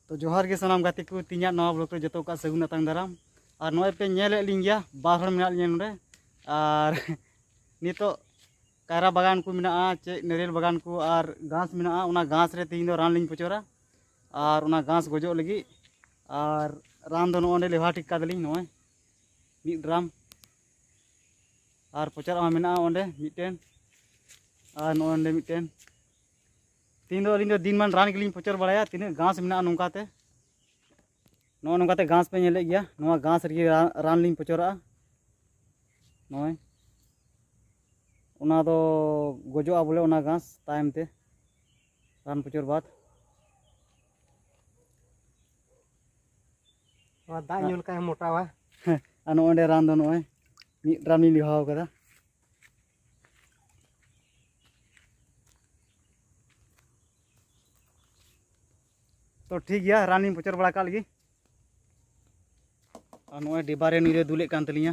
ᱛᱚ ᱡᱚᱦᱟᱨ ᱜᱮ ᱥᱟᱱᱟᱢ ᱜᱟᱛᱮ ᱠᱚ ᱛᱤᱧᱟᱜ ᱱᱚᱣᱟ ᱵᱞᱚᱜ ᱨᱮ ᱡᱚᱛᱚ ᱠᱚᱣᱟᱜ ᱥᱟᱹᱜᱩᱱ ᱟᱛᱟᱝ ᱫᱟᱨᱟᱢ ᱟᱨ ᱱᱚᱜᱼᱚᱭ ᱯᱮ ᱧᱮᱞᱮᱫ ᱞᱤᱧ ᱜᱮᱭᱟ ᱵᱟᱨ ᱦᱚᱲ ᱢᱮᱱᱟᱜ ᱞᱤᱧᱟ ᱱᱚᱰᱮ ᱟᱨ ᱱᱤᱛᱚᱜ ᱠᱟᱭᱨᱟ ᱵᱟᱜᱟᱱ ᱠᱚ ᱢᱮᱱᱟᱜᱼᱟ ᱪᱮᱫ ᱱᱟᱹᱨᱤᱭᱮᱞ ᱵᱟᱜᱟᱱ ᱠᱚ ᱟᱨ ᱜᱷᱟᱥ ᱢᱮᱱᱟᱜᱼᱟ ᱚᱱᱟ ᱜᱷᱟᱥ ᱨᱮ ᱛᱤᱦᱤᱧ ᱫᱚ ᱨᱟᱱ ᱞᱤᱧ ᱯᱚᱪᱚᱨᱟ ᱟᱨ ᱚᱱᱟ ᱜᱷᱟᱥ ᱜᱚᱡᱚᱜ ᱞᱟᱹᱜᱤᱫ ᱟᱨ ᱨᱟᱱ ᱫᱚ ᱱᱚᱜᱼᱚᱸᱰᱮ ᱞᱮᱣᱦᱟ ᱴᱷᱤᱠ ᱠᱟᱫᱟᱞᱤᱧ ᱱᱚᱜᱼᱚᱭ ᱢᱤᱫ ᱰᱨᱟᱢ ᱟᱨ ᱯᱚᱪᱟᱨ ᱟᱢᱟ ᱢᱮᱱᱟᱜᱼᱟ ᱚᱸᱰᱮ ᱢᱤᱫᱴᱮᱱ ᱟᱨ ᱱᱚᱜᱼᱚᱭ ᱚᱸᱰᱮ ᱢᱤᱫᱴᱮᱱ ᱛᱤᱦᱤᱧ ᱫᱚ ᱟᱹᱞᱤᱧ ᱫᱚ ᱫᱤᱱᱢᱟᱱ ᱨᱟᱱ ᱜᱮᱞᱤᱧ ᱯᱚᱪᱟᱨ ᱵᱟᱲᱟᱭᱟ ᱛᱤᱱᱟᱹᱜ ᱜᱷᱟᱥ ᱢᱮᱱᱟᱜᱼᱟ ᱱᱚᱝᱠᱟᱛᱮ ᱱᱚᱜᱼᱚ ᱱᱚᱝᱠᱟᱛᱮ ᱜᱷᱟᱥ ᱯᱮ ᱧᱮᱞᱮᱫ ᱜᱮᱭᱟ ᱱᱚᱣᱟ ᱜᱷᱟᱥ ᱨᱮᱜᱮ ᱨᱟᱱ ᱞᱤᱧ ᱯᱚᱪᱚᱨᱟᱜᱼᱟ ᱱᱚᱜᱼᱚᱭ ᱚᱱᱟ ᱫᱚ ᱜᱚᱡᱚᱜᱼᱟ ᱵᱚᱞᱮ ᱚᱱᱟ ᱜᱷᱟᱥ ᱛᱟᱭᱚᱢ ᱛᱮ ᱨᱟᱱ ᱯᱩᱪᱩᱨ ᱵᱟᱫ ᱱᱚᱣᱟ ᱫᱟᱜ ᱧᱩ ᱞᱮᱠᱷᱟᱡ ᱢᱚᱴᱟᱣᱟ ᱦᱮᱸ ᱟᱨ ᱱᱚᱜᱼᱚᱭ ᱚᱸᱰᱮ ᱨᱟᱱ ᱫᱚ ᱱᱚᱜᱼᱚᱭ ᱢᱤᱫ ᱰᱨᱟᱢ ᱞᱤᱧ ᱞᱤᱦᱟᱣ ᱠᱟᱫᱟ ᱛᱚ ᱴᱷᱤᱠ ᱜᱮᱭᱟ ᱨᱟᱱᱤᱧ ᱯᱚᱪᱚᱨ ᱵᱟᱲᱟ ᱠᱟᱜ ᱞᱮᱜᱮ ᱟᱨ ᱱᱚᱜᱼᱚᱭ ᱰᱤᱵᱟᱨᱮ ᱱᱤᱨᱮ ᱫᱩᱞᱮᱫ ᱠᱟᱱ ᱛᱟᱹᱞᱤᱧᱟ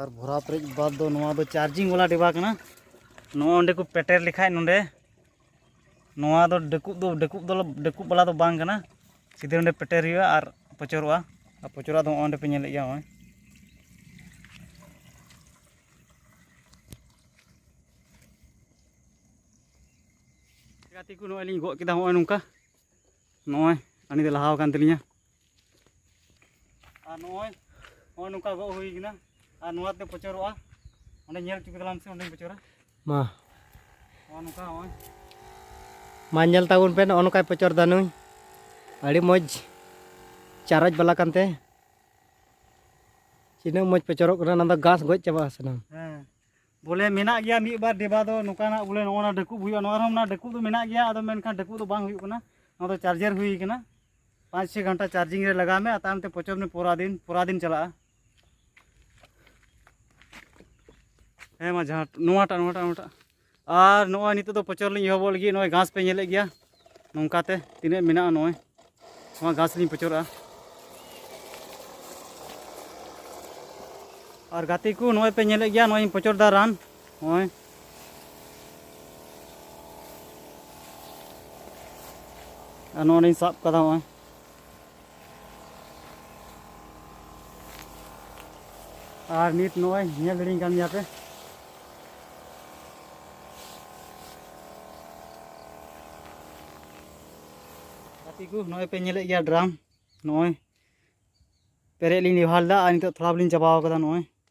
ᱟᱨ ᱵᱷᱚᱨᱟᱣ ᱯᱮᱨᱮᱡ ᱵᱟᱫᱽ ᱫᱚ ᱱᱚᱣᱟ ᱫᱚ ᱪᱟᱨᱡᱤᱝ ᱵᱟᱞᱟ ᱰᱮᱵᱟ ᱠᱟᱱᱟ ᱱᱚᱣᱟ ᱚᱸᱰᱮ ᱠᱚ ᱯᱮᱴᱮᱨ ᱞᱮᱠᱷᱟᱡ ᱱᱚᱸᱰᱮ ᱱᱚᱣᱟ ᱫᱚ ᱰᱟᱹᱠᱩᱵ ᱫᱚ ᱰᱟᱹᱠᱩᱵ ᱫᱚ ᱰᱟᱹᱠᱩᱵ ᱵᱟᱞᱟ ᱫᱚ ᱵᱟᱝ ᱠᱟᱱᱟ ᱥᱤᱫᱷᱟᱹ ᱚᱸᱰᱮ ᱯᱮᱴᱮᱨ ᱦᱩᱭᱩᱜᱼᱟ ᱟᱨ ᱯᱚᱪᱚᱨᱚᱜᱼᱟ ᱟᱨ ᱯᱚᱪᱚᱨᱟᱜ ᱫᱚ ᱱᱚᱜᱼᱚᱭ ᱚᱸᱰᱮ ᱯᱮ ᱧᱮᱞᱮᱫ ᱜᱮᱭᱟ ᱱᱚᱜᱼᱚᱭ ᱜᱟᱛᱮ ᱠᱚ ᱱᱚᱜᱼᱚᱭ ᱞᱤᱧ ᱜᱚᱫ ᱠᱮᱫᱟ ᱱᱚᱜᱼᱚᱭ ᱱᱚᱝᱠᱟ ᱱᱚᱜᱼᱚᱭ ᱟᱹᱞᱤᱧ ᱫᱚ ᱞᱟᱦᱟᱣ ᱟᱠᱟᱱ ᱛᱟᱹᱞᱤᱧᱟ ᱟᱨ ᱱᱚᱜᱼᱚᱭ ᱱᱚᱜᱼᱚᱭ ᱱᱚᱝᱠᱟ ᱜᱚᱜ ᱦᱩᱭ ᱠᱟᱱᱟ ᱟᱨ ᱱᱚᱣᱟᱛᱮ ᱯᱚᱪᱚᱨᱚᱜᱼᱟ ᱚᱸᱰᱮ ᱧᱮᱞ ᱦᱚᱪᱚ ᱠᱮᱫᱟᱞᱟᱢ ᱥᱮ ᱚᱸᱰᱮᱧ ᱯᱚᱪᱚᱨᱟ ᱢᱟ ᱱᱚᱜᱼᱚ ᱱᱚᱝᱠᱟ ᱱᱚᱜᱼᱚᱭ ᱢᱟ ᱧᱮᱞ ᱛᱟᱵᱚᱱ ᱯᱮ ᱱᱚᱜᱼᱚ ᱱᱚᱝᱠᱟᱭ ᱯᱚᱪᱚᱨ ᱫᱟ ᱱᱩᱭ ᱟᱹᱰᱤ ᱢᱚᱡᱽ ᱪᱟᱨᱚᱡ ᱵᱟᱞᱟ ᱠᱟᱱᱛᱮ ᱛᱤᱱᱟᱹᱜ ᱢᱚᱡᱽ ᱯᱚᱪᱚᱨᱚᱜ ᱠᱟᱱᱟ ᱚᱱᱟ ᱫᱚ ᱜᱷᱟᱥ ᱜᱚᱡ ᱪᱟᱵᱟᱜᱼᱟ ᱥᱟᱱᱟᱢ ᱦᱮᱸ ᱵᱚᱞᱮ ᱢᱮᱱᱟᱜ ᱜᱮᱭᱟ ᱢᱤᱫ ᱵᱟᱨ ᱰᱮᱵᱟ ᱫᱚ ᱱᱚᱝᱠᱟᱱᱟᱜ ᱵᱚᱞᱮ ᱱᱚᱜᱼᱚ ᱱᱟ ᱰᱟᱹᱠᱩᱵ ᱦᱩᱭᱩᱜᱼᱟ ᱱᱚᱣᱟ ᱨᱮᱦᱚᱸ ᱚᱱᱟ ᱰᱟᱹᱠᱩᱵ ᱫᱚ ᱢᱮᱱᱟᱜ ᱜᱮᱭᱟ ᱟᱫᱚ ᱢᱮᱱᱠᱷᱟᱱ ᱰᱟᱹᱠᱩᱵ ᱫᱚ ᱵᱟᱝ ᱦᱩᱭᱩᱜ ᱠᱟᱱᱟ ᱱᱚᱣᱟ ᱫᱚ ᱪᱟᱨᱡᱟᱨ ᱦᱩᱭ ᱠᱟᱱᱟ ᱯᱟᱸᱪ ᱪᱷᱚ ᱜᱷᱚᱱᱴᱟ ᱪᱟᱨᱡᱤᱝ ᱨᱮ ᱞᱟᱜᱟᱣ ᱢᱮ ᱟᱨ ᱛᱟᱭᱚᱢ ᱛᱮ ᱯᱚᱪᱚᱨ ᱢᱮ ᱯᱚᱨᱟ ᱫᱤᱱ ᱯᱚᱨᱟ ᱫᱤᱱ ᱪᱟᱞᱟᱜᱼᱟ ᱦᱮᱸ ᱢᱟ ᱡᱟᱦᱟᱸ ᱱᱚᱣᱟᱴᱟᱜ ᱱᱚᱣᱟᱴᱟᱜ ᱱᱚᱣᱟᱴᱟᱜ ᱟᱨ ᱱᱚᱜᱼᱚᱭ ᱱᱤᱛᱚᱜ ᱫᱚ ᱯᱚᱪᱚᱨ ᱞᱤᱧ ᱮᱦᱚᱵᱚᱜ ᱞᱟᱹᱜᱤᱫ ᱱᱚᱜᱼᱚᱭ ᱜᱷᱟᱥ ᱯᱮ ᱧᱮᱞᱮᱫ ᱜᱮᱭᱟ ᱱᱚᱝᱠᱟᱛᱮ ᱛᱤᱱᱟᱹᱜ ᱢᱮᱱᱟᱜᱼᱟ ᱱᱚᱜᱼᱚᱭ ᱱᱚᱣᱟ ᱜᱷᱟᱥ ᱞᱤᱧ ᱯᱚᱪᱚᱨᱟᱜᱼᱟ ᱟᱨ ᱜᱟᱛᱮ ᱠᱚ ᱱᱚᱜᱼᱚᱭ ᱯᱮ ᱧᱮᱞᱮᱫ ᱜᱮᱭᱟ ᱱᱚᱜᱼᱚᱭ ᱤᱧ ᱯᱚᱪᱚᱨᱫᱟ ᱨᱟᱱ ᱱᱚᱜᱼᱚᱭ ᱟᱨ ᱱᱚᱜᱼᱚᱭ ᱞᱤᱧ ᱥᱟᱵ ᱠᱟᱫᱟ ᱱᱚᱜᱼᱚᱭ ᱟᱨ ᱱᱤᱛ ᱱᱚᱜᱼᱚᱭ ᱧᱮᱞ ᱫᱟᱲᱮᱧ ᱠᱟᱱ ᱜᱮᱭᱟ ᱯᱮ ᱜᱟᱛᱮ ᱠᱚ ᱱᱚᱜᱼᱚᱭ ᱯᱮ ᱧᱮᱞᱮᱫ ᱜᱮᱭᱟ ᱰᱨᱟᱢ ᱱᱚᱜᱼᱚᱭ ᱯᱮᱨᱮᱡ ᱞᱤᱧ ᱞᱮᱵᱷᱟᱨ ᱞᱮᱫᱟ ᱟᱨ ᱱᱤᱛᱚᱜ ᱛᱷᱚᱲᱟ ᱵᱚᱞᱤᱧ ᱪᱟᱵᱟᱣ ᱠᱟᱫᱟ ᱱᱚᱜᱼᱚᱭ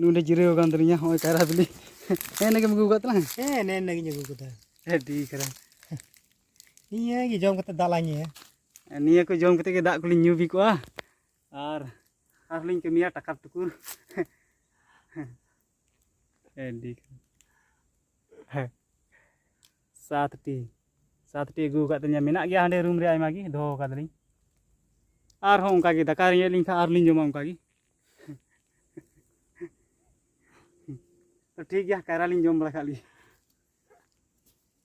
ᱱᱚᱰᱮ ᱡᱤᱨᱟᱹᱣ ᱟᱠᱟᱱ ᱛᱟᱹᱞᱤᱧᱟ ᱦᱚᱸᱜᱼᱚᱭ ᱠᱟᱭᱨᱟ ᱵᱤᱞᱤ ᱦᱮᱸ ᱱᱟᱜᱮᱢ ᱟᱹᱜᱩ ᱟᱠᱟᱫ ᱛᱟᱞᱟᱝ ᱦᱮᱸ ᱱᱮ ᱱᱟᱜᱤᱧ ᱟᱹᱜᱩ ᱟᱠᱟᱫᱟ ᱟᱹᱰᱤ ᱠᱟᱨᱟ ᱱᱤᱭᱟᱹ ᱜᱮ ᱡᱚᱢ ᱠᱟᱛᱮ ᱫᱟᱜ ᱞᱟᱝ ᱧᱩᱭᱟ ᱱᱤᱭᱟᱹ ᱠᱚ ᱡᱚᱢ ᱠᱟᱛᱮ ᱜᱮ ᱫᱟᱜ ᱠᱚᱞᱤᱧ ᱧᱩ ᱵᱤ ᱠᱚᱜᱼᱟ ᱟᱨ ᱟᱨᱦᱚᱸ ᱞᱤᱧ ᱠᱟᱹᱢᱤᱭᱟ ᱴᱟᱠᱟ ᱴᱩᱠᱩᱨ ᱦᱮᱸ ᱥᱟᱛᱴᱤ ᱥᱟᱛᱴᱤ ᱟᱹᱜᱩ ᱟᱠᱟᱫ ᱛᱤᱧᱟᱹ ᱢᱮᱱᱟᱜ ᱜᱮᱭᱟ ᱦᱟᱸᱰᱮ ᱨᱩᱢ ᱨᱮ ᱟᱭᱢᱟ ᱜᱮ ᱫᱚᱦᱚ ᱟᱠᱟᱫᱟᱞᱤᱧ ᱟᱨᱦᱚᱸ ᱚᱱᱠᱟ ᱜᱮ ᱫᱟᱠᱟ ᱨᱮᱸᱜᱮᱡ ᱞᱤᱧ ᱠᱷᱟᱱ ᱟᱨᱞᱤᱧ ᱡᱚᱢᱟ ᱚᱱᱠᱟ ᱜᱮ ᱴᱷᱤᱠ ᱜᱮᱭᱟ ᱠᱟᱭᱨᱟ ᱞᱤᱧ ᱡᱚᱢ ᱵᱟᱲᱟ ᱠᱟᱜ ᱞᱤᱧ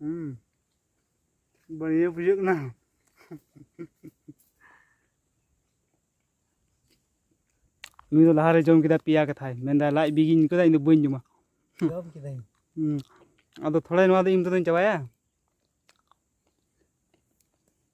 ᱦᱩᱸ ᱵᱟᱹᱲᱤᱭᱟᱹ ᱵᱩᱡᱷᱟᱹᱜ ᱠᱟᱱᱟ ᱱᱩᱭ ᱫᱚ ᱞᱟᱦᱟᱨᱮ ᱡᱚᱢ ᱠᱮᱫᱟ ᱯᱮᱭᱟ ᱠᱟᱛᱷᱟᱭ ᱢᱮᱱᱫᱟ ᱞᱟᱡ ᱵᱤᱜᱤᱧ ᱠᱮᱫᱟ ᱤᱧ ᱫᱚ ᱵᱟᱹᱧ ᱡᱚᱢᱟ ᱡᱚᱢ ᱠᱮᱫᱟᱹᱧ ᱟᱫᱚ ᱛᱷᱚᱲᱟ ᱱᱚᱣᱟ ᱫᱚ ᱤᱧ ᱛᱮᱫᱚᱧ ᱪᱟᱵᱟᱭᱟ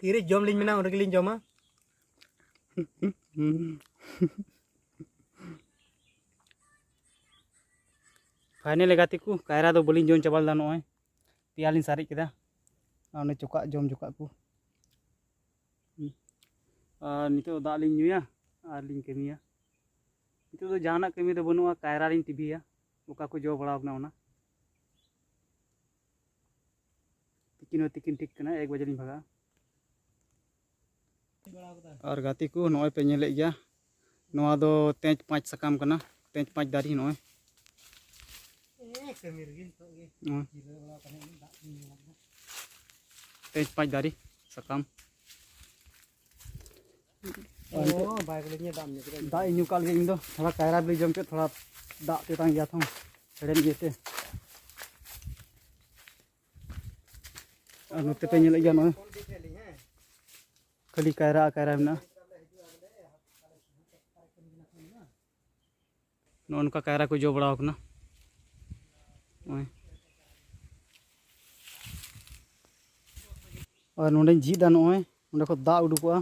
ᱛᱤᱨᱮ ᱡᱚᱢ ᱞᱤᱧ ᱢᱮᱱᱟ ᱩᱱ ᱨᱮᱜᱮ ᱞᱤᱧ ᱡᱚᱢᱟ ᱯᱷᱟᱭᱱᱮᱞ ᱜᱟᱛᱮ ᱠᱚ ᱠᱟᱭᱨᱟ ᱫᱚ ᱵᱟᱹᱞᱤᱧ ᱡᱚᱢ ᱪᱟᱵᱟ ᱞᱮᱫᱟ ᱱᱚᱜᱼᱚᱭ ᱯᱮᱭᱟ ᱞᱤᱧ ᱥᱟᱨᱮᱡ ᱠᱮᱫᱟ ᱟᱨ ᱚᱱᱮ ᱪᱚᱠᱟᱜ ᱡᱚᱢ ᱪᱚᱠᱟᱜ ᱠᱚ ᱟᱨ ᱱᱤᱛᱚᱜ ᱫᱟᱜ ᱞᱤᱧ ᱧᱩᱭᱟ ᱟᱨ ᱞᱤᱧ ᱠᱟᱹᱢᱤᱭᱟ ᱱᱤᱛᱚᱜ ᱫᱚ ᱡᱟᱦᱟᱱᱟᱜ ᱠᱟᱹᱢᱤ ᱫᱚ ᱵᱟᱹᱱᱩᱜᱼᱟ ᱠᱟᱭᱨᱟ ᱞᱤᱧ ᱴᱤᱵᱷᱤᱭᱟ ᱚᱠᱟ ᱠᱚ ᱡᱚ ᱵᱟᱲᱟᱣ ᱠᱟᱱᱟ ᱚᱱᱟ ᱛᱤᱠᱤᱱ ᱦᱚᱸ ᱛᱤᱠᱤᱱ ᱴᱷᱤᱠ ᱠᱟᱱᱟ ᱮᱠ ᱵᱟᱡᱮ ᱞᱤᱧ ᱵᱷᱟᱜᱟ ᱟᱨ ᱜᱟᱛᱮ ᱠᱚ ᱱᱚᱜᱼᱚᱭ ᱯᱮ ᱧᱮᱞᱮᱫ ᱜᱮᱭᱟ ᱱᱚᱣᱟ ᱫᱚ ᱛᱮᱡᱽ ᱯᱟᱸᱪ ᱥᱟᱠᱟᱢ ᱠᱟᱱᱟ ᱛᱮᱡᱽ ᱯᱟᱸᱪ ᱫᱟᱨᱮ ᱱᱚᱜᱼᱚᱭ ᱛᱮᱡᱽ ᱯᱟᱸᱪ ᱫᱟᱨᱮ ᱥᱟᱠᱟᱢ ᱫᱟᱜ ᱤᱧ ᱧᱩ ᱠᱟᱜ ᱞᱮᱜᱮ ᱤᱧ ᱫᱚ ᱛᱷᱚᱲᱟ ᱠᱟᱭᱨᱟ ᱵᱤᱞᱤ ᱡᱚᱢ ᱠᱮᱫ ᱛᱷᱚᱲᱟ ᱫᱟᱜ ᱛᱮᱛᱟᱝ ᱜᱮᱭᱟ ᱛᱷᱚᱝ ᱦᱮᱲᱮᱢ ᱤᱭᱟᱹᱛᱮ ᱟᱨ ᱱᱚᱛᱮ ᱯᱮ ᱧᱮᱞᱮᱫ ᱜᱮᱭᱟ ᱱᱚᱜᱼᱚᱭ ᱠᱷᱟᱹᱞᱤ ᱠᱟᱭᱨᱟ ᱠᱟᱭᱨᱟ ᱢᱮᱱᱟᱜᱼᱟ ᱱᱚᱜᱼᱚ ᱱᱚᱝᱠᱟ ᱠᱟᱭᱨᱟ ᱠᱚ ᱡᱚ ᱵᱟᱲᱟᱣ ᱠᱟᱱᱟ ᱱᱚᱜᱼᱚᱭ ᱟᱨ ᱱᱚᱰᱮᱧ ᱡᱷᱤᱡ ᱫᱟ ᱱᱚᱜᱼᱚᱭ ᱱᱚᱰᱮ ᱠᱷᱚᱱ ᱫᱟᱜ ᱩᱰᱩᱠᱚᱜᱼᱟ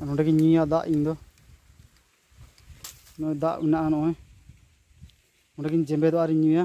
ᱟᱨ ᱱᱚᱰᱮ ᱜᱤᱧ ᱧᱩᱭᱟ ᱫᱟᱜ ᱤᱧ ᱫᱚ ᱱᱚᱜᱼᱚᱭ ᱫᱟᱜ ᱢᱮᱱᱟᱜᱼᱟ ᱱᱚᱜᱼᱚᱭ ᱱᱚᱰᱮ ᱜᱤᱧ ᱡᱮᱢᱵᱮᱫᱚᱜᱼᱟ ᱟᱨᱤᱧ ᱧᱩᱭᱟ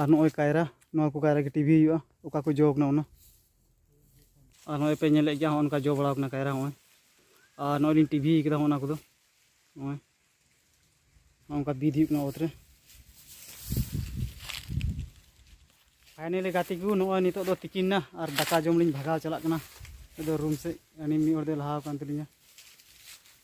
ᱟᱨ ᱱᱚᱜᱼᱚᱭ ᱠᱟᱭᱨᱟ ᱱᱚᱣᱟ ᱠᱚ ᱠᱟᱭᱨᱟ ᱜᱮ ᱴᱤᱵᱷᱤ ᱦᱩᱭᱩᱜᱼᱟ ᱚᱠᱟ ᱠᱚ ᱡᱚ ᱠᱟᱱᱟ ᱚᱱᱟ ᱟᱨ ᱱᱚᱜᱼᱚᱭ ᱯᱮ ᱧᱮᱞᱮᱫ ᱜᱮᱭᱟ ᱦᱚᱸᱜᱼᱚ ᱱᱚᱝᱠᱟ ᱡᱚ ᱵᱟᱲᱟᱣ ᱠᱟᱱᱟ ᱠᱟᱭᱨᱟ ᱦᱚᱸᱜᱼᱚᱭ ᱟᱨ ᱱᱚᱜᱼᱚᱭ ᱞᱤᱧ ᱴᱤᱵᱷᱤ ᱠᱟᱫᱟ ᱚᱱᱟ ᱠᱚᱫᱚ ᱱᱚᱜᱼᱚᱭ ᱱᱚᱝᱠᱟ ᱵᱤᱫ ᱦᱩᱭᱩᱜ ᱠᱟᱱᱟ ᱚᱛ ᱨᱮ ᱯᱷᱟᱭᱱᱮᱞᱤ ᱜᱟᱛᱮ ᱠᱚ ᱱᱚᱜᱼᱚᱭ ᱱᱤᱛᱚᱜ ᱫᱚ ᱛᱤᱠᱤᱱ ᱱᱟ ᱟᱨ ᱫᱟᱠᱟ ᱡᱚᱢ ᱞᱤᱧ ᱵᱷᱟᱜᱟᱣ ᱪᱟᱞᱟᱜ ᱠᱟᱱᱟ ᱟᱫᱚ ᱨᱩᱢ ᱥᱮᱫ ᱟᱹᱞᱤᱧ ᱢᱤᱫ ᱦᱚᱲ ᱫᱚᱭ ᱞᱟᱦᱟᱣ ᱟᱠᱟᱱ ᱛᱟᱹᱞᱤᱧᱟ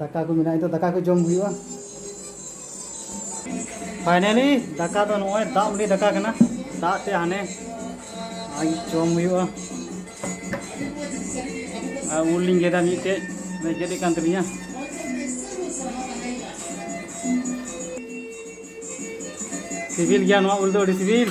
ᱫᱟᱠᱟ ᱠᱚ ᱢᱮᱱᱟᱜᱼᱟ ᱱᱤᱛᱚᱜ ᱫᱟᱠᱟ ᱠᱚ ᱡᱚᱢ ᱦᱩᱭᱩᱜᱼᱟ ᱯᱷᱟᱭᱱᱟᱞᱤ ᱫᱟᱠᱟ ᱫᱚ ᱱᱚᱜᱼᱚᱭ ᱫᱟᱜ ᱢᱟᱹᱰᱤ ᱫᱟᱠᱟ ᱠᱟᱱᱟ ᱫᱟᱜ ᱛᱮ ᱦᱟᱱᱮ ᱡᱚᱢ ᱦᱩᱭᱩᱜᱼᱟ ᱟᱨ ᱩᱞ ᱞᱤᱧ ᱜᱮᱫᱟ ᱢᱤᱫᱴᱮᱡ ᱜᱮᱫ ᱠᱟᱱ ᱛᱟᱹᱞᱤᱧᱟ ᱥᱤᱵᱤᱞ ᱜᱮᱭᱟ ᱱᱚᱣᱟ ᱩᱞ ᱫᱚ ᱟᱹᱰᱤ ᱥᱤᱵᱤᱞ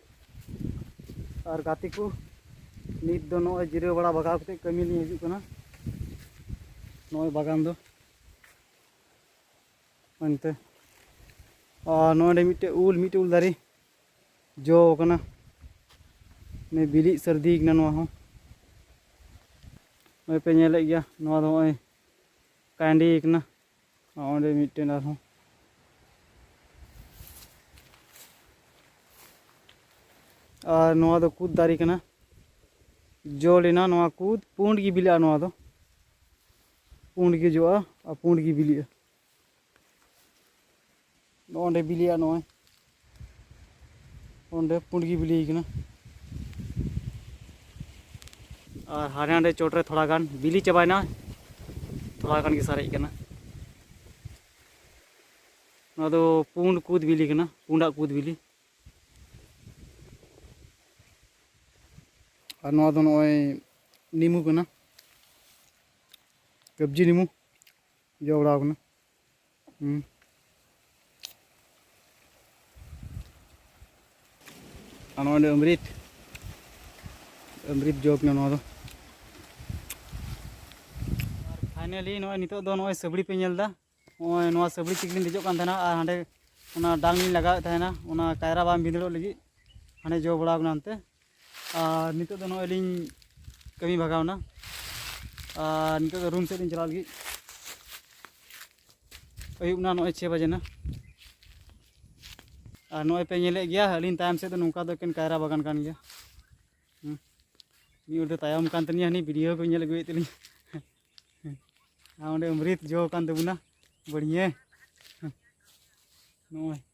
ᱟᱨ ᱜᱟᱛᱮ ᱠᱚ ᱱᱤᱛ ᱫᱚ ᱱᱚᱜᱼᱚᱭ ᱡᱤᱨᱟᱹᱣ ᱵᱟᱲᱟ ᱵᱟᱜᱟᱣ ᱠᱟᱛᱮ ᱠᱟᱹᱢᱤ ᱞᱤᱧ ᱦᱤᱡᱩᱜ ᱠᱟᱱᱟ ᱱᱚᱜᱼᱚᱭ ᱵᱟᱜᱟᱱ ᱫᱚ ᱚᱱᱛᱮ ᱟᱨ ᱱᱚᱰᱮ ᱢᱤᱫᱴᱮᱡ ᱩᱞ ᱢᱤᱫᱴᱮᱡ ᱩᱞ ᱫᱟᱨᱮ ᱡᱚ ᱟᱠᱟᱱᱟ ᱱᱤᱭᱟᱹ ᱵᱤᱞᱤᱜ ᱥᱟᱹᱨᱫᱤ ᱠᱟᱱᱟ ᱱᱚᱣᱟ ᱦᱚᱸ ᱱᱚᱜᱼᱚᱭ ᱯᱮ ᱧᱮᱞᱮᱫ ᱜᱮᱭᱟ ᱱᱚᱣᱟ ᱫᱚ ᱱᱚᱜᱼᱚᱭ ᱠᱟᱺᱰᱤ ᱠᱟᱱᱟ ᱚᱸᱰᱮ ᱢᱤᱫᱴᱮᱱ ᱟᱨᱦᱚᱸ ᱟᱨ ᱱᱚᱣᱟ ᱫᱚ ᱠᱩᱫ ᱫᱟᱨᱮ ᱠᱟᱱᱟ ᱡᱚ ᱞᱮᱱᱟ ᱱᱚᱣᱟ ᱠᱩᱫ ᱯᱩᱸᱰ ᱜᱮ ᱵᱤᱞᱤᱜᱼᱟ ᱱᱚᱣᱟ ᱫᱚ ᱯᱩᱸᱰ ᱜᱮ ᱡᱚᱜᱼᱟ ᱟᱨ ᱯᱩᱸᱰ ᱜᱮ ᱵᱤᱞᱤᱜᱼᱟ ᱱᱚᱜᱼᱚᱸᱰᱮ ᱵᱤᱞᱤᱜᱼᱟ ᱱᱚᱜᱼᱚᱭ ᱚᱸᱰᱮ ᱯᱩᱸᱰ ᱜᱮ ᱵᱤᱞᱤᱭ ᱠᱟᱱᱟ ᱟᱨ ᱦᱟᱸᱰᱮ ᱱᱟᱰᱮ ᱪᱚᱴ ᱨᱮ ᱛᱷᱚᱲᱟ ᱜᱟᱱ ᱵᱤᱞᱤ ᱪᱟᱵᱟᱭᱮᱱᱟ ᱛᱷᱚᱲᱟ ᱜᱟᱱ ᱜᱮ ᱥᱟᱨᱮᱡ ᱠᱟᱱᱟ ᱱᱚᱣᱟ ᱫᱚ ᱯᱩᱸᱰ ᱠᱩᱫ ᱵᱤᱞᱤ ᱠᱟᱱᱟ ᱯᱩᱸᱰᱟᱜ ᱠᱩᱫ ᱵᱤᱞᱤ ᱟᱨ ᱱᱚᱣᱟ ᱫᱚ ᱱᱚᱜᱼᱚᱭ ᱱᱤᱢᱩ ᱠᱟᱱᱟ ᱠᱟᱵᱽᱡᱤ ᱱᱤᱢᱩ ᱡᱚ ᱵᱟᱲᱟᱣ ᱠᱟᱱᱟ ᱟᱨ ᱱᱚᱜᱼᱚᱭ ᱫᱚ ᱟᱢᱨᱤᱛ ᱟᱢᱨᱤᱛ ᱡᱚ ᱠᱟᱱᱟ ᱱᱚᱣᱟ ᱫᱚ ᱟᱨ ᱯᱷᱟᱭᱱᱟᱞᱤ ᱱᱚᱜᱼᱚᱭ ᱱᱤᱛᱚᱜ ᱫᱚ ᱱᱚᱜᱼᱚᱭ ᱥᱟᱹᱵᱲᱤ ᱯᱮ ᱧᱮᱞ ᱮᱫᱟ ᱱᱚᱜᱼᱚᱭ ᱱᱚᱣᱟ ᱥᱟᱹᱵᱲᱤ ᱛᱮᱜᱮᱞᱤᱧ ᱫᱮᱡᱚᱜ ᱠᱟᱱ ᱛᱟᱦᱮᱱᱟ ᱟᱨ ᱦᱟᱸᱰᱮ ᱚᱱᱟ ᱰᱟᱝ ᱞᱤᱧ ᱞᱟᱜᱟᱣᱮᱫ ᱛᱟᱦᱮᱱᱟ ᱚᱱᱟ ᱠᱟᱭᱨᱟ ᱵᱟᱝ ᱵᱷᱤᱸᱫᱟᱹᱲᱚᱜ ᱞᱟᱹᱜᱤᱫ ᱦᱟᱸᱰᱮ ᱡᱚ ᱵᱟᱲᱟᱣ ᱠᱟᱱᱟ ᱚᱱᱛᱮ ᱟᱨ ᱱᱤᱛᱚᱜ ᱫᱚ ᱱᱚᱜᱼᱚᱭ ᱞᱤᱧ ᱠᱟᱹᱢᱤ ᱵᱷᱟᱜᱟᱣᱱᱟ ᱟᱨ ᱱᱤᱛᱚᱜ ᱫᱚ ᱨᱩᱢ ᱥᱮᱫ ᱞᱤᱧ ᱪᱟᱞᱟᱣ ᱞᱟᱹᱜᱤᱫ ᱟᱹᱭᱩᱵ ᱱᱟ ᱱᱚᱜᱼᱚᱭ ᱪᱷᱮ ᱵᱟᱡᱮ ᱱᱟ ᱟᱨ ᱱᱚᱜᱼᱚᱭ ᱯᱮ ᱧᱮᱞᱮᱫ ᱜᱮᱭᱟ ᱟᱹᱞᱤᱧ ᱛᱟᱭᱚᱢ ᱥᱮᱫ ᱫᱚ ᱱᱚᱝᱠᱟ ᱫᱚ ᱮᱠᱮᱱ ᱠᱟᱭᱨᱟ ᱵᱟᱜᱟᱱ ᱠᱟᱱ ᱜᱮᱭᱟ ᱢᱤᱫ ᱦᱚᱲ ᱫᱚ ᱛᱟᱭᱚᱢ ᱠᱟᱱ ᱛᱟᱹᱞᱤᱧᱟ ᱦᱟᱹᱱᱤ ᱵᱷᱤᱰᱤᱭᱳ ᱠᱚ ᱧᱮᱞ ᱟᱹᱜᱩᱭᱮᱫ ᱛᱟᱹᱞᱤᱧᱟ ᱟᱨ ᱚᱸᱰᱮ ᱚᱢᱨᱤᱛ ᱡᱚ ᱠᱟᱱ ᱛᱟᱵᱚᱱᱟ ᱵᱟᱹᱲᱤᱭᱟᱹ ᱱᱚᱜᱼᱚᱭ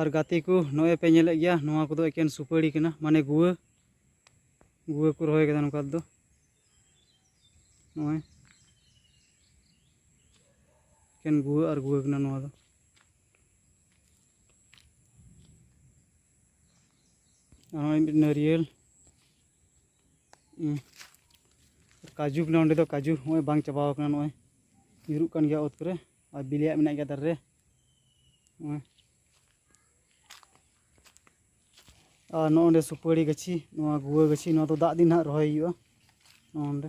ᱟᱨ ᱜᱟᱛᱮ ᱠᱚ ᱱᱚᱜᱼᱚᱭ ᱯᱮ ᱧᱮᱞᱮᱫ ᱜᱮᱭᱟ ᱱᱚᱣᱟ ᱠᱚᱫᱚ ᱮᱠᱮᱱ ᱥᱩᱯᱟᱹᱲᱤ ᱠᱟᱱᱟ ᱢᱟᱱᱮ ᱜᱩᱣᱟᱹ ᱜᱩᱣᱟᱹ ᱠᱚ ᱨᱚᱦᱚᱭ ᱠᱟᱫᱟ ᱱᱚᱝᱠᱟ ᱫᱚ ᱱᱚᱜᱼᱚᱭ ᱮᱠᱮᱱ ᱜᱩᱣᱟᱹ ᱟᱨ ᱜᱩᱣᱟᱹ ᱠᱟᱱᱟ ᱱᱚᱣᱟ ᱫᱚ ᱱᱚᱜᱼᱚᱭ ᱢᱤᱫ ᱱᱟᱹᱨᱤᱭᱟᱹᱞ ᱠᱟᱡᱩ ᱠᱟᱱᱟ ᱚᱸᱰᱮ ᱫᱚ ᱠᱟᱡᱩ ᱱᱚᱜᱼᱚᱭ ᱵᱟᱝ ᱪᱟᱵᱟᱣ ᱠᱟᱱᱟ ᱱᱚᱜᱼᱚᱭ ᱧᱩᱨᱩᱜ ᱠᱟᱱ ᱜᱮᱭᱟ ᱚᱛ ᱠᱚᱨᱮ ᱟᱨ ᱵᱤᱞᱤᱭᱟᱜ ᱢᱮᱱᱟᱜ ᱜᱮᱭᱟ ᱫᱟᱨᱮ ᱨᱮ ᱟᱨ ᱱᱚᱜᱼᱚ ᱱᱚᱸᱰᱮ ᱥᱩᱯᱟᱹᱲᱤ ᱜᱟᱹᱪᱷᱤ ᱱᱚᱣᱟ ᱜᱩᱣᱟᱹ ᱜᱟᱹᱪᱷᱤ ᱱᱚᱣᱟ ᱫᱚ ᱫᱟᱜ ᱫᱤᱱ ᱦᱟᱸᱜ ᱨᱚᱦᱚᱭ ᱦᱩᱭᱩᱜᱼᱟ ᱱᱚᱜᱼᱚ ᱱᱚᱸᱰᱮ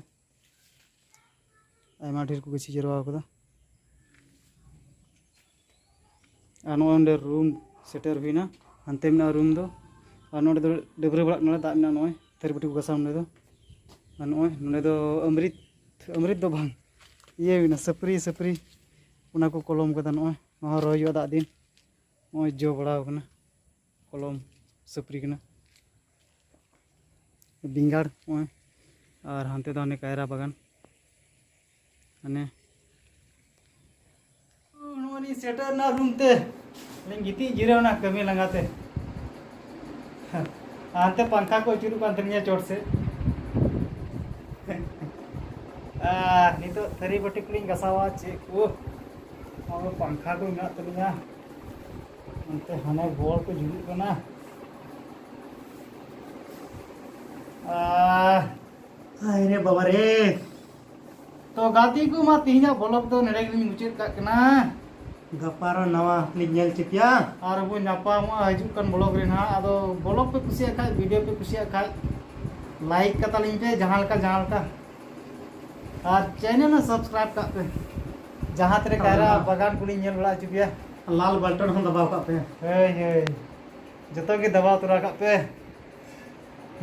ᱟᱭᱢᱟ ᱰᱷᱮᱨ ᱠᱚ ᱜᱟᱹᱪᱷᱤ ᱡᱟᱨᱣᱟ ᱟᱠᱟᱫᱟ ᱟᱨ ᱱᱚᱜᱼᱚ ᱱᱚᱸᱰᱮ ᱨᱩᱢ ᱥᱮᱴᱮᱨ ᱦᱩᱭᱱᱟ ᱦᱟᱱᱛᱮ ᱢᱮᱱᱟᱜᱼᱟ ᱨᱩᱢ ᱫᱚ ᱟᱨ ᱱᱚᱸᱰᱮ ᱫᱚ ᱰᱟᱹᱵᱽᱨᱟᱹ ᱵᱟᱲᱟᱜ ᱠᱟᱱᱟᱞᱮ ᱫᱟᱜ ᱢᱮᱱᱟᱜᱼᱟ ᱱᱚᱜᱼᱚᱭ ᱛᱷᱟᱹᱨᱤ ᱵᱟᱹᱴᱤ ᱠᱚ ᱜᱟᱥᱟᱣ ᱱᱚᱸᱰᱮ ᱫᱚ ᱟᱨ ᱱᱚᱜᱼᱚᱭ ᱱᱚᱸᱰᱮ ᱫᱚ ᱟᱢᱨᱤᱛ ᱟᱢᱨᱤᱛ ᱫᱚ ᱵᱟᱝ ᱤᱭᱟᱹ ᱦᱩᱭᱱᱟ ᱥᱟᱹᱯᱨᱤ ᱥᱟᱹᱯᱨᱤ ᱚᱱᱟ ᱠᱚ ᱠᱚᱞᱚᱢ ᱠᱟᱫᱟ ᱱᱚᱜᱼᱚᱭ ᱱᱚᱣᱟ ᱦᱚᱸ ᱨᱚᱦᱚᱭ ᱦᱩᱭᱩᱜᱼᱟ ᱫᱟᱜ ᱫᱤᱱ ᱱᱚᱜᱼᱚᱭ ᱡᱚ ᱵᱟᱲᱟᱣ ᱠᱟᱱᱟ ᱠᱚᱞᱚᱢ ᱥᱟᱹᱯᱨᱤ ᱠᱟᱱᱟ ᱵᱮᱸᱜᱟᱲ ᱱᱚᱜᱼᱚᱭ ᱟᱨ ᱦᱟᱱᱛᱮ ᱫᱚ ᱦᱟᱱᱮ ᱠᱟᱭᱨᱟ ᱵᱟᱜᱟᱱ ᱦᱟᱱᱮ ᱱᱚᱜᱼᱚᱭ ᱞᱤᱧ ᱥᱮᱴᱮᱨᱱᱟ ᱨᱩᱢ ᱛᱮ ᱞᱤᱧ ᱜᱤᱛᱤᱡ ᱡᱤᱨᱟᱹᱣᱱᱟ ᱠᱟᱹᱢᱤ ᱞᱟᱸᱜᱟᱛᱮ ᱦᱟᱱᱛᱮ ᱯᱟᱝᱠᱷᱟ ᱠᱚ ᱟᱹᱪᱩᱨᱚᱜ ᱠᱟᱱ ᱛᱟᱹᱞᱤᱧᱟ ᱪᱚᱴ ᱥᱮᱫ ᱟᱨ ᱱᱤᱛᱚᱜ ᱛᱷᱟᱹᱨᱤ ᱵᱟᱹᱴᱤ ᱠᱚᱞᱤᱧ ᱜᱟᱥᱟᱣᱟ ᱪᱮᱫ ᱠᱚ ᱟᱵᱚ ᱯᱟᱝᱠᱷᱟ ᱠᱚ ᱢᱮᱱᱟᱜ ᱛᱟᱹᱞᱤᱧᱟ ᱚᱱᱛᱮ ᱦᱟᱱᱮ ᱵᱚᱞ ᱠᱚ ᱡᱩᱞᱩᱜ ᱠᱟᱱᱟ ᱟᱨ ᱟᱭ ᱨᱮ ᱵᱟᱵᱟ ᱨᱮ ᱛᱚ ᱜᱟᱛᱮ ᱠᱚ ᱢᱟ ᱛᱮᱦᱮᱧᱟᱜ ᱵᱚᱞᱚᱜ ᱫᱚ ᱱᱚᱰᱮ ᱜᱮᱞᱤᱧ ᱢᱩᱪᱟᱹᱫ ᱠᱟᱜ ᱠᱟᱱᱟ ᱜᱟᱯᱟ ᱟᱨᱚ ᱱᱟᱣᱟ ᱞᱤᱧ ᱧᱮᱞ ᱦᱚᱪᱚ ᱯᱮᱭᱟ ᱟᱨ ᱵᱚᱱ ᱧᱟᱯᱟᱢᱚᱜᱼᱟ ᱦᱤᱡᱩᱜ ᱠᱟᱱ ᱵᱞᱚᱜ ᱨᱮ ᱱᱟᱦᱟᱜ ᱟᱫᱚ ᱵᱞᱚᱜ ᱯᱮ ᱠᱩᱥᱤᱭᱟᱜ ᱠᱷᱟᱡ ᱵᱷᱤᱰᱤᱭᱳ ᱯᱮ ᱠᱩᱥᱤᱭᱟᱜ ᱠᱷᱟᱡ ᱞᱟᱭᱤᱠ ᱠᱟᱛᱟᱞᱤᱧ ᱯᱮ ᱡᱟᱦᱟᱸ ᱞᱮᱠᱟ ᱡᱟᱦᱟᱸ ᱞᱮᱠᱟ ᱟᱨ ᱪᱮᱱᱮᱞ ᱦᱚᱸ ᱥᱟᱵᱥᱠᱨᱟᱭᱤᱵ ᱠᱟᱜ ᱯᱮ ᱡᱟᱦᱟᱸ ᱛᱤᱨᱮ ᱠᱟᱭᱨᱟ ᱵᱟᱜᱟᱱ ᱠᱚᱞᱤᱧ ᱧᱮᱞ ᱵᱟᱲᱟ ᱦᱚᱪᱚ ᱯᱮᱭᱟ ᱞᱟᱞ ᱵᱟᱞᱴᱚᱱ ᱦᱚᱸ ᱫᱟᱵᱟᱣ ᱠᱟᱜ ᱯᱮ ᱦᱳᱭ ᱦᱳᱭ ᱡᱚᱛᱚ ᱜᱮ ᱫᱟᱵᱟᱣ ᱛᱚᱨᱟ ᱠᱟᱜ ᱯᱮ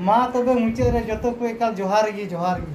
ᱢᱟ ᱛᱚᱵᱮ ᱢᱩᱪᱟᱹᱫ ᱨᱮ ᱡᱚᱛᱚ ᱠᱚ ᱮᱠᱟᱞ ᱡᱚᱦᱟᱨ ᱜᱮ ᱡᱚᱦᱟᱨ ᱜᱮ